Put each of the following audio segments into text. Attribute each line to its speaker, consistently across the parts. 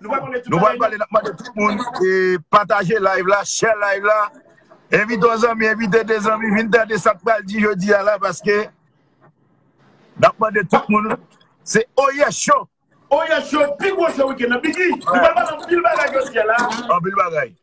Speaker 1: Nou pral pale nap
Speaker 2: mande tout moun e pataje live la, share live la, envite yon zanmi, envite 2 zanmi vin tande sak pral di jodi a la paske nap mande tout moun se Oyè Show! Oyè Show
Speaker 1: pi gwo show week-end nan Biggi! Nou pral pale anpil bagay jodi a la! Anpil bagay!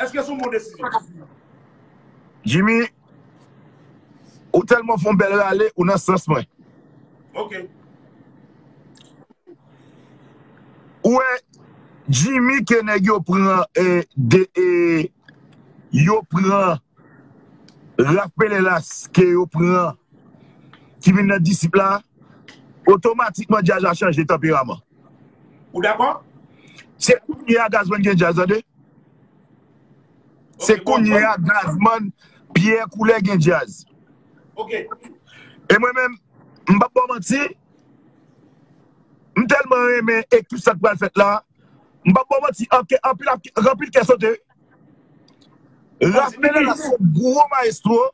Speaker 1: Eske son bon
Speaker 2: desizyon? Jimmy ou telman fon bel rale ou nan sans mwen. Ok. Ou wè Jimmy ke nèg yo pran e de e yo pran Ralph Penelas ke yo pran ki vin nan disip la otomatikman Jaja chanje tanperaman. Ou dakò?
Speaker 1: Se kounye
Speaker 2: a Gazman gen djaz tande. Se kounye a Gazman Pierre Coulè gen djaz. Ok.
Speaker 1: E
Speaker 2: mwen menm, m pap ba w manti, m tèlman renmen e tout sa k pral fèt la, m pap ba w manti, anpil kè sote wi. Raphmelin la se gwo maestro.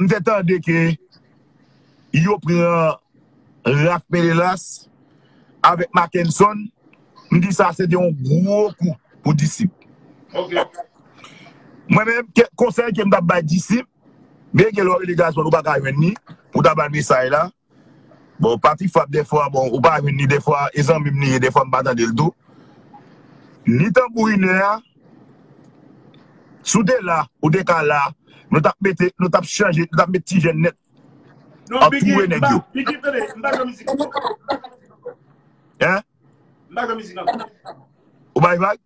Speaker 2: M te tande ke yo pran Raph Menelas avèk Mackenson, m di sa se te yon gwo kou pou Disip. Mwen menm, konsèy ke m ta bay Disip, byen gen lè w rele Gazzman ou pa ka jwenn li pou w ta ba l mesaj la, Bon pati frap dèfwa bon ou pa jwenn li dèfwa e zanmim li ye dèfwa mpa tandel tou ni tanbourinè a si w te la ou te ka la nou tap mete nou tap chanje nou tap met ti jèn nèt Non biggy mpa
Speaker 1: biggy tande mpa jwenn mizik ankò hein mpa jwenn mizik
Speaker 2: ankò
Speaker 1: ou bay
Speaker 2: vag.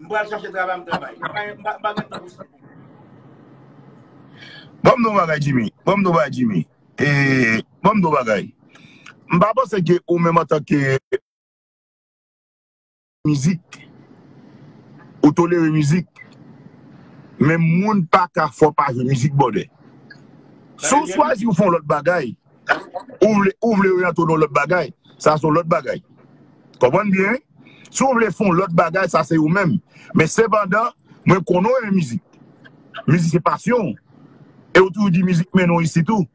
Speaker 1: M pral chache travay m travay. M pa
Speaker 2: gen tan pou sa. Bon m di w yon bagay Jimmy. Bon m di w yon bagay Jimmy. Bon m di w yon bagay. M pa panse ke ou menm antanke mizik. Ou tolere mizik. Men moun pa ka fè w pa jwe mizik bwòdè. Si w chwazi w fè yon lòt bagay. Ou vle ou vle oryante'w nan yon lòt bagay, sa se yon lòt bagay. Konprann byen wi. Si ou vle fè yon lòt bagay, sa se ou menm. Men sepandan, mwen konnen ou renmen mizik. Mizik se pasyon ou. E ou toujou di mizik mennen ou isit ou.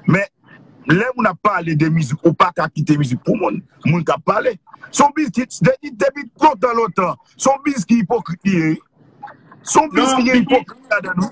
Speaker 2: Men, lè moun ap pale de mizik, ou pa ka kite mizik pou moun. Moun k'ap pale. Se yon biz ki, depi lontan lontan, se yon biz ki ipokrit li ye wi. Se yon biz ki gen ipokrit ladan li.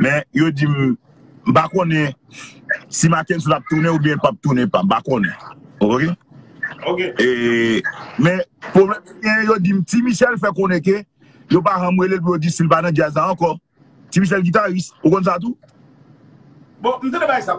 Speaker 2: Men yo di m m pa konnen si Mackenson ap tounen oubyen l pap tounen pa m pa konnen ok e men pwoblèm ki genyen yo di m Ti Michel fè konnen ke yo pa janm rele l pou yo di si l pa nan djaz la ankò Ti Michel gitaris ou konn sa tou? Bon
Speaker 1: m tande bagay sa.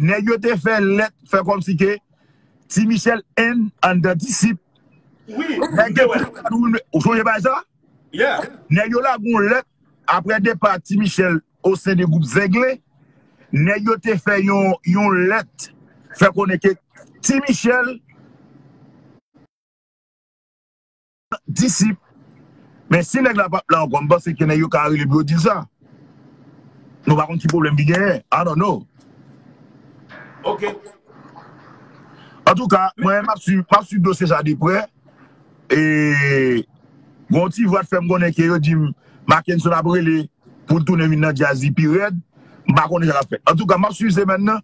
Speaker 2: Nèg yo te fè lèt fè kòmsi ke Ti Michel 1 anndan Disip.
Speaker 1: Nèg yo te fè yon
Speaker 2: lèt, ou sonje bagay sa? Nèg
Speaker 1: yo lage yon
Speaker 2: lèt aprè depa Ti Michel osen de gwoup Zenglen. Nèg yo te fè yon lèt fè konnen ke Ti Michel. Disip. Men si nèg la pap la ankò, m panse ke nèg yo ka rele pou yo di l sa. Nou pa konn ki pwoblèm ki genyen. I don't know.
Speaker 1: Ok.
Speaker 2: Antouka, mwen m ap swiv, m ap swiv dosye sa de prè. E. Gon ti vwa t fè m konnen ke yo di m Mackenson ap rele. Poul tounen vin nan djaz li pi rèd m pa konnen sa kap fèt antouka map swiv semèn nan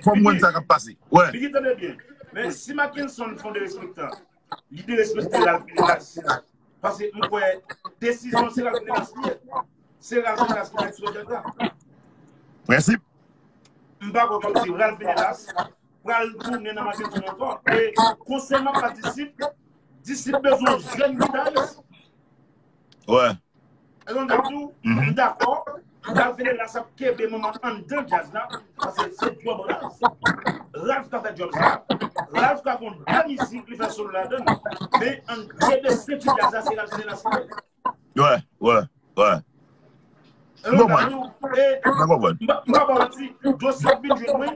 Speaker 1: fòm
Speaker 2: wè sa kap pase wè. Biggy tande byen men
Speaker 1: si Mackenson fon derespektan li derespekte Ralph Minelas paske m kwè desizyon se Ralph Minelas li ye se Ralph Minelas ki fè ti odèt la prensip m pa kwè kòmsi Ralph Minelas pral tounen nan Mackenson ankò e konsèman pa disip disip bezwen jèn gitayis.
Speaker 2: Wè. E yon dam diw,
Speaker 1: m dakò, Ralph Venegas ap kenbe manman anndan djaz la, paske se djòb Ralph. Ralph ka fè djòb sa. Ralph ka gon bèl mizik li fè solo ladan l. Men an kenbe senti djaz la se Ralph Venegas ki fè. Wè,
Speaker 2: wè, wè. M konprann. M konprann. M pa
Speaker 1: ba w manti, dosye ap vin jwenn mwen.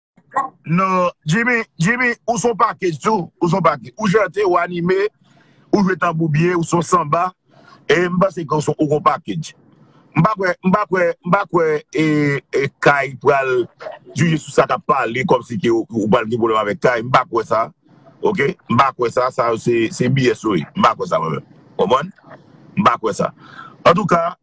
Speaker 2: Non, Jimmy, Jimmy, ou son pakej tou, ou son pakej. Ou chante, ou anime, ou jwe tanbou byen, ou son sanba, e m panse ke ou son ou gon pakej. M pa kwè, m pa kwè, m pa kwè e, e Kay pral jije sou sa k ap pale kòm si ke ou pral gen pwoblèm avèk Kay, m pa kwè sa, ok, m pa kwè sa, sa yo se, se BS yo ye, m pa kwè sa mwen menm, konprann? M pa kwè sa. Antouka.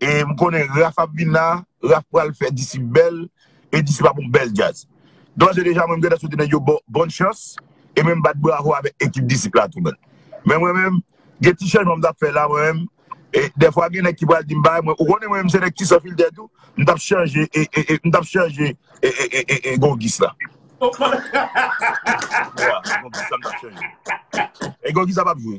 Speaker 2: e m konnen Raph ap vin la, Raph pral fè Disip bèl e Disip ap yon bèl djaz. Dòs e deja mwen m gentan swete nèg yo bòn chans e menm bat bravo avèk ekip Disip la tou menn. Men mwen menm, gen ti chanjman m t ap fè la mwen menm, e dèfwa gen nèg ki pral di m bagay mwen, ou konnen mwen menm se nèg ki san filtè tou, m t ap chanje e, m t ap chanje e Gongis la. Gongis la m t ap chanje. E Gongis la p ap jwe.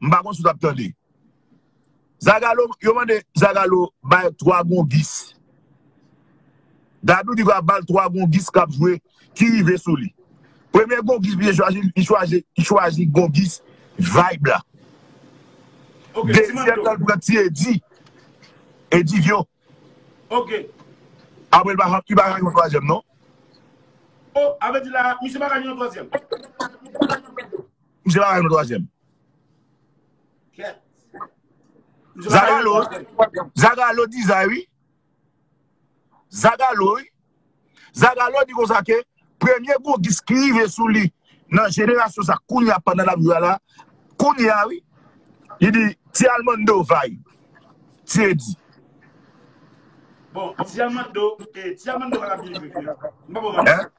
Speaker 2: M pa konn si w t ap tande. Zagalo, yo mande Zagalo bay 3 gongis. Dadou di va ba l 3 gongis k ap jwe ki rive sou li. Premye gongis misye chwazi, li chwazi, li chwazi gongis Vayb la.
Speaker 1: Dezyèm nan l
Speaker 2: pran ti Edi, Edivyon. Apre l pa ka, li pa ka gen yon twazyèm non.
Speaker 1: O, sa vle di la a, misye pa ka gen yon twazyèm? Misye
Speaker 2: pa rayil nan twazyèm. Zagalo, zagalo dizay wi. Zagalo wi. Zagalo di konsa ke premye gogis ki rive sou li nan jenerasyon sa kounya pandan lap jwe a la, kounya wi. Li di ti almando vay. Ti edi.
Speaker 1: Bon, ti almando, ti almando pa ka byen jwe vre. Mwen pa bon manti.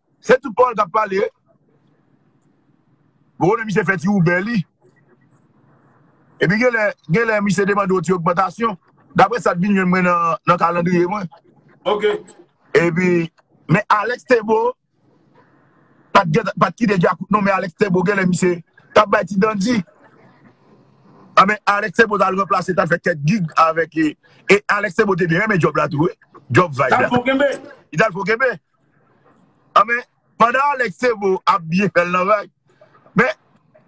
Speaker 2: Se tout pawòl kap pale. Bon konnen misye fè ti Uber li. Epi genlè, genlè misye te mande yon ti ogmantasyon. Daprè sa t vin jwenn mwen nan kalandriye mwen. Ok.
Speaker 1: Epi,
Speaker 2: men Alex Thébo pat gen, pat kite Djakout non men Alex Thébo genlè misye tap bay ti dandi. Anben Alex Thébo tal ranplase, tal fè kèk gig avèk e Alex Thébo te byen renmen djòb la tou wi. Djòb vibe la. Tal fon kenbe. Li tal fon kenbe. An men pandan Alex Thébeau ap byen fèl nan vag men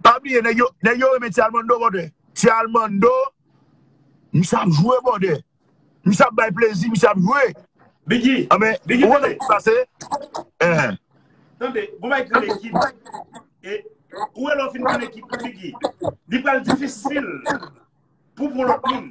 Speaker 2: pa bliye nèg yo nèg yo renmen ti Almando brother ti Almando misye ap jwe brother misye ap bay plezi misye ap jwe Biggy an men
Speaker 1: Biggy ou wè tande
Speaker 2: sa ki pase eeh
Speaker 1: tande gon bagay ki rele ekip e ou wè lè w fin pran ekip Biggy li pral difisil pou w pran lòt moun.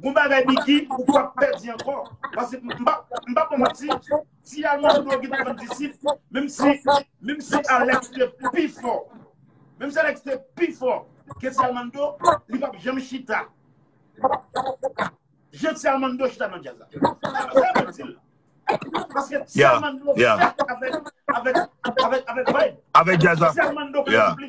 Speaker 1: Bon bagay Biggy ou pap pèdi ankò paske m pa m pa pran manti ti almand yo gen pou vann disip menm si menm si Alex te pi fò menm si Alex te pi fò ke ti almand yo li pap janm chita jan ti almand yo chita nan djaz la sa sa mwen di l paske ti almand yo fèt avèk avèk avèk vibe avèk djaz la ti almand
Speaker 2: yo konn soupli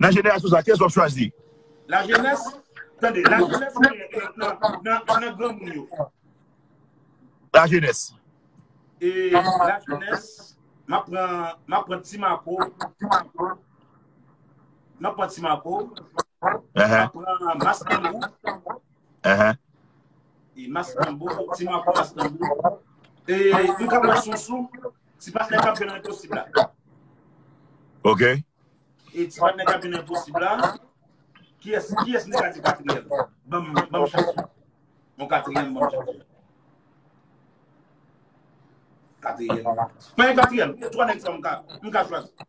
Speaker 2: Nan jenerasyon sa, kiyès w ap chwazi? Lajenès,
Speaker 1: tande, lajenès genyen nan granmoun yo.
Speaker 2: Lajenès. E
Speaker 1: lajenès, m ap pran Ti Mako, m ap pran Ti Mako, m ap pran Mas Tanbou, Ti Mako, Mas Tanbou, e m ka pran Sousou. Ti patnè kap jwe nan enposib la.
Speaker 2: Ok. E
Speaker 1: ti patnè kap jwe nan enposib la, kiyès, kiyès nou ka di katriyèm? Banm, banm chans ou. Yon katriyèm banm chans ou. Katriyèm. Mwen yon katriyèm. Twa nèg sa mka, mka chwazi.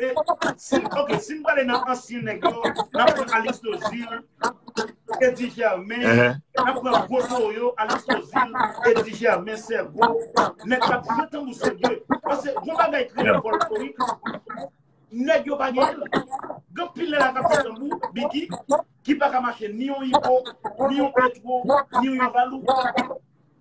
Speaker 1: Ok, si m prale nan ansyen nèk yo, nan pran Alix Tozil, Eddy Germain, nan pran gwo toro yo, Alix Tozil, Eddy Germain, Sergo, nèk k ap jwe tanbou serye. Pase, gwo bagay kreye folklorik, nèk yo pa gen l. Gen pil nèk la k ap jwe tanbou, Biggy, ki pa ka mache ni yon Ivo, ni yon Petro, ni yon Valou.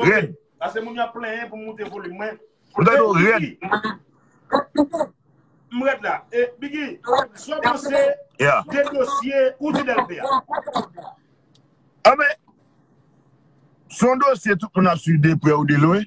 Speaker 1: Red. Ase moun yap plenyen pou moute volim mwen. Mwen do red. M red la. E Biggy, so panse de dosye ou di delpe a?
Speaker 2: Amen. Son dosye tout moun ap suiv de pre ou de lwen.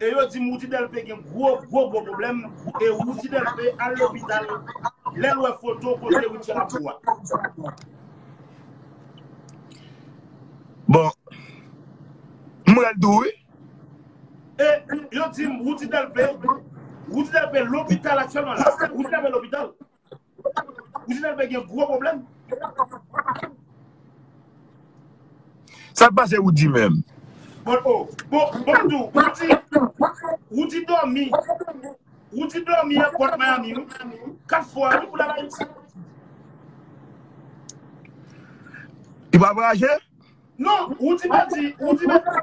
Speaker 1: e yo dim Roody Delpé gen gwo gwo gwo pwoblèm e Roody Delpé al lopital lèl wè foto kote Rutshelle ap bo a.
Speaker 2: Bon M rèd tou wi. E
Speaker 1: yo dim Roody Delpé Roody Delpé lopital aktyèlman la Roody Delpé lopital. Oujinèlve gen gwo pwoblèm.
Speaker 2: Sak pase Roody menm? Bon oh bon bon tou Roody Roody
Speaker 1: domi Roody domi nan pòt Miami wi 4 fwa wi pou lal Ayiti.
Speaker 2: Li pa voyaje? Non
Speaker 1: Roody pèdi Roody pèdi.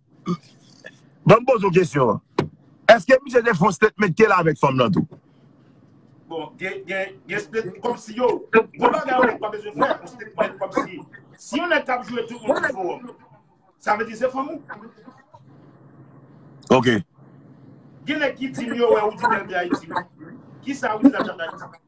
Speaker 2: Banm poze w kesyon an. Eske misye te fon statement kel avek fanm lan tou?
Speaker 1: Bon gen gen statement komsi yo Gon bagay yon nèg pa bezwen fè yon statement komsi Si yon nèg kap jwe tout moun sou forum Sa vle di se fanm ou?
Speaker 2: Ok. Gen
Speaker 1: nèg ki dim yo wè ou di bèl de Ayiti wi Kisa ou di la chat Ayiti?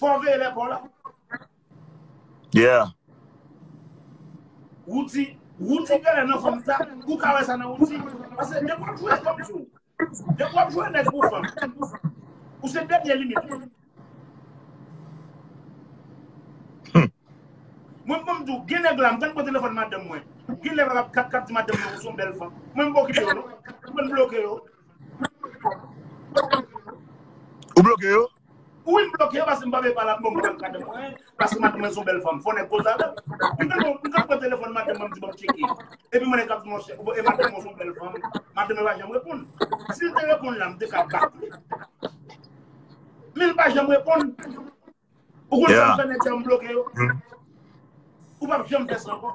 Speaker 1: Fò veye lè paw la.
Speaker 2: Yeah. Routy,
Speaker 1: Routy genlè nan fanm sa, ou ka wè sa nan Routy. Pase depi wap jwe fanm sou, depi wap jwe nèg pou fanm, ou se dènye limit li. Mwen m konn diw, gen nèg la, m konn pran telefòn madanm mwen, gen nèg la kap kap di madanm mwen ou son bèl fanm. Mwen m pa okipe yo non. Mwen bloke yo.
Speaker 2: Ou bloke yo? Ui m bloke
Speaker 1: paske m pa vle pale ak moun banm kado mwen paske madanm mwen son bèl fanm fò nèg koze avèl m tèlman m ka pran telefòn madanm mwen m di banm tcheke epi m wè nèg ap di monchè e madanm mwen son bèl fanm madanm mwen pa janm reponn sil te reponn la m te ka bak li men l pa janm reponn ou konn sa m fè nèg sa yo m bloke yo ou pap janm fè sa ankò.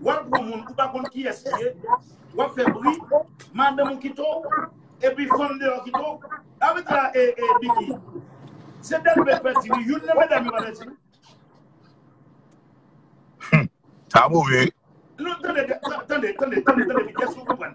Speaker 1: Wap pran moun ou pa konn kiyes li ye wap fè bri madanm ou kite w epi fanm deyò kite w sa vle di la ee Biky se Delbé k pèdi wi youn nan medam yo pa pèdi wi.
Speaker 2: Sa move wi. Non tande
Speaker 1: tande tande tande tande Biky èske ou konprann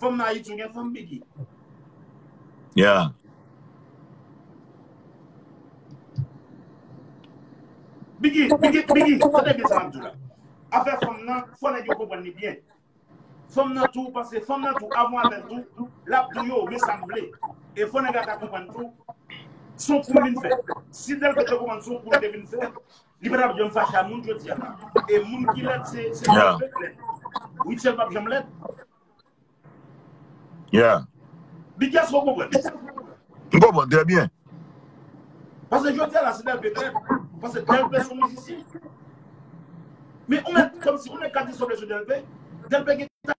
Speaker 1: Fanm nan ayiti yo gen fanm biggy.
Speaker 2: Yeah.
Speaker 1: Biggy, biggy, biggy, tande byen sa map di la. Afè fanm nan, fò nèg yo konprann li byen. Fanm nan tou, panse fanm nan tou, avon avèl tou, lap di yo, men sa m vle. E fò nèg la ta konprann tou, son kou li vin fè. Si tel fè te konprann son kou li te vin fè, Li pa tap janm fache a moun jodia la. E moun ki lèd se moun yo ret lèd. Rutshelle pap janm lèd.
Speaker 2: Yeah. Biggy èske ou
Speaker 1: konprann? M konprann
Speaker 2: trè byen.
Speaker 1: Pase jodia la se Delpe k lèd. Pase Delpe son mizisyen. Men ou mèt kòm si ou mèt kate soble sou Delpe. Delpe gen ta.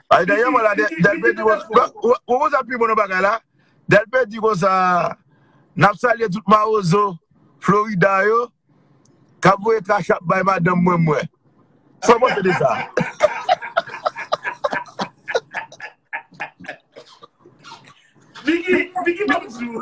Speaker 2: Ay dèyè mwen la Delpe di konsa Ou konn sa pi bon nan bagay la Delpe di konsa Nap salye tout mawozo Florida yo Kap voye cash app bay madanm mwen mwen Sa ou panse de sa
Speaker 1: Vicky Vicky banm di ou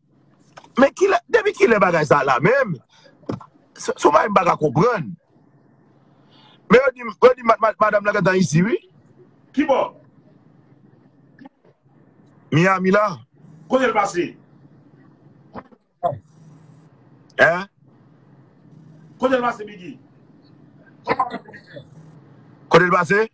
Speaker 2: Men kilè, depi kilè bagay sa la menm? Se yon bagay m pa ka konprann. Men yo di m, yo di m madam nan gentan isi wi. Ki bò? Miami la. Kote l pase? Hein?
Speaker 1: Kote l pase Biggy?
Speaker 2: Kote l pase?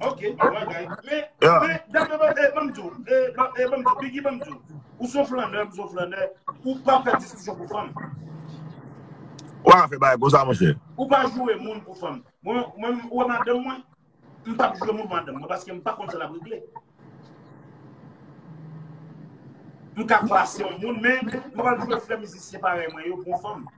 Speaker 2: Ok, wè
Speaker 1: gay. Men, men, dam nan mwen, e, mwen mdou, e, e, mwen mdou, bigi mwen mdou. Ou son flanè, ou son flanè, ou pa fè diskisyon pou fanm.
Speaker 2: Ou pa fè bagay konsa, mwen chè. Ou pa joure moun
Speaker 1: pou fanm. Mwen, mwen, ou wè madanm mwen, m pa joure moun madanm mwen, paske m pa konn sa la brigle. M ka klase yon moun, men, m pa joure frè mizisyen parèy mwen yo pou fanm.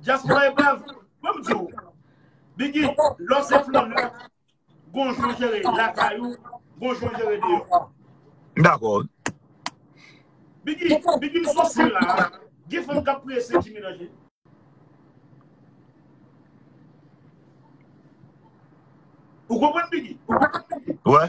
Speaker 2: Diaspora e
Speaker 1: brav. Mwen m di w. Biggy, lò se flanm lan, gon jan w jere lakay ou, gon jan w jere deyò. M dakò wi. Biggy, Biggy m sou sim la a. Gen fanm k ap priye se Jimmy Lange. Ou konprann Biggy? Wè.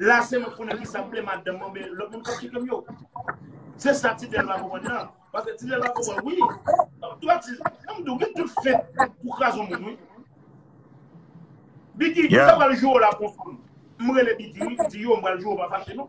Speaker 1: La se mwen konnen kisa mwen vle madanm mwen men lòt moun kap tchekèm yo. Se sa ti dèl pa konprann nan. Pase ti dèl pa konprann wi. Mwen tou ap di, nan mwen tou gen tout fèt pou krazon moun wi. Bigui, mwen ta pral joure la pou fanm. Mwen rele Bigui wi, mwen di yo mwen pral joure pa fache non.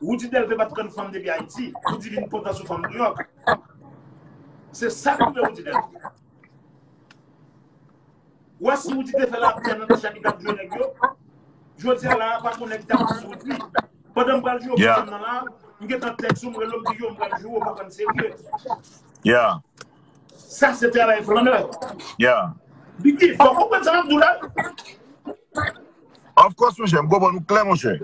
Speaker 1: Roody Delpé pat konn fanm depi Ayiti. Roody vin kontan sou fanm Nouyòk. Se sa k rive Roody Delpé. Ou wè si Roody te fè lapè nan Tasha ki tap jwe nèg yo, jodi a la a pa konnen ki tap pase Roody. Pandan m pral jwe pou fanm nan la, m gen tan tèks ou m rele w m di yo m pral jwe w pa prann serye. Sa
Speaker 2: se travay
Speaker 1: flannè. Biggi, fò w konprann sa m ap di w la.
Speaker 2: Of course monchè, m konprann ou klè monchè.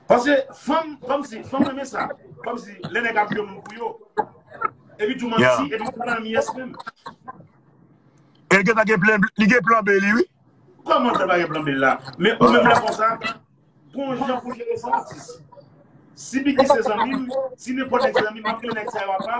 Speaker 1: Pase fanm, fanm si, fanm renmen sa. Fanm si, lè nèg ap jwe moun pou yo. E pi tou manti, e pi tou nan myès menm.
Speaker 2: E gen ta gen plen, li gen plan be li wi. Koman sa ta gen
Speaker 1: plan be la? Men ou menm lè konsa, gon jan pou jere sa atis. Si bigi se zanmim, si nenpò nèg se zanmim, map gen nèg sa yo apa,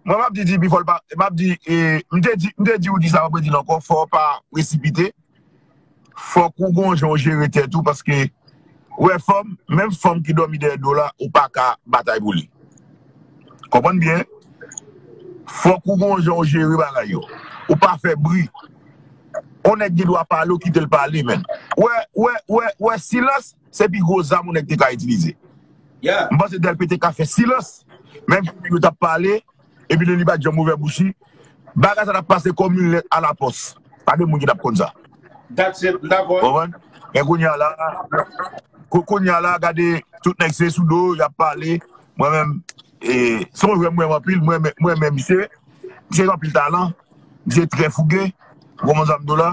Speaker 2: Mwen map di DP fòl pa, map di, m te di, m te di ou di sa map redi l ankò fò ou pa presipite, fòk ou gon jan ou jere tèt ou paske ou wè fanm, menm fanm ki dòmi dèyè do w la ou pa ka batay pou li. Konprann byen, fòk ou gon jan ou jere bagay yo, ou pa fè bri. On nèg gen dwa pale ou kite l pale menn. Ou wè, ou wè, ou wè, ou wè silans Se pi gwo zam yon nèg te ka itilize. M panse
Speaker 1: Dèlpe te ka
Speaker 2: fè silans, menm si yo t ap pale epi tou li pa t janm ouvè bouch li, bagay sa t ap pase kòm yon lèt alapòs. Pa gen moun ki t ap konn sa.
Speaker 1: Ou konprann? Men kounye a la,
Speaker 2: kounye a la gade tout nèg se sou do y ap pale. Mwen menm, se yon jwè m renmen anpil, m renmen misye. Misye gen anpil talan, misye trè fouge. Ou konprann sa m di w la?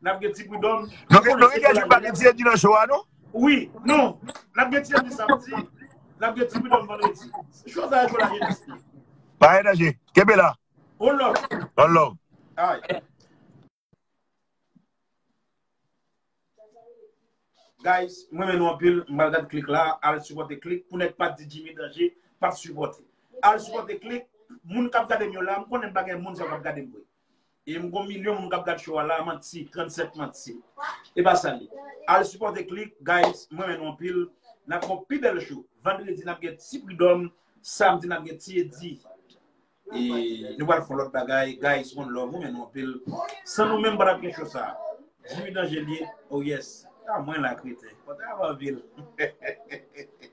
Speaker 1: Nap gen ti pridòm. Nou gen nou gen
Speaker 2: pa gen ti edi nan show a non. Wi, non.
Speaker 1: Nap gen ti edi samdi, nap gen ti pridòm vandredi. Show sa e show la jenès li. Pa gen danje.
Speaker 2: Kenbe la. One love.
Speaker 1: One love. Ay. Guys, mwen men nou anpil, mwen gade klik la, al supporte klik pou nèg pat di Jimmy Danger pat supporte. Al supporte klik, moun kap gade m yo la, m konnen m pa gen moun sa kap gade m vre. E m gon milyon moun kap gad show a la manti 37 manti e pa sa l ye al sipòte klik guys m renmen nou anpil nap gen yon pi bèl show vandredi nap gen ti pridòm samdi nap gen ti edi e nou pral fon lòt bagay guys one love m renmen nou anpil san nou menm m patap gen show sa jimmy danger l ye oh yes ta mwen la kreten kontan avanvil hehehehe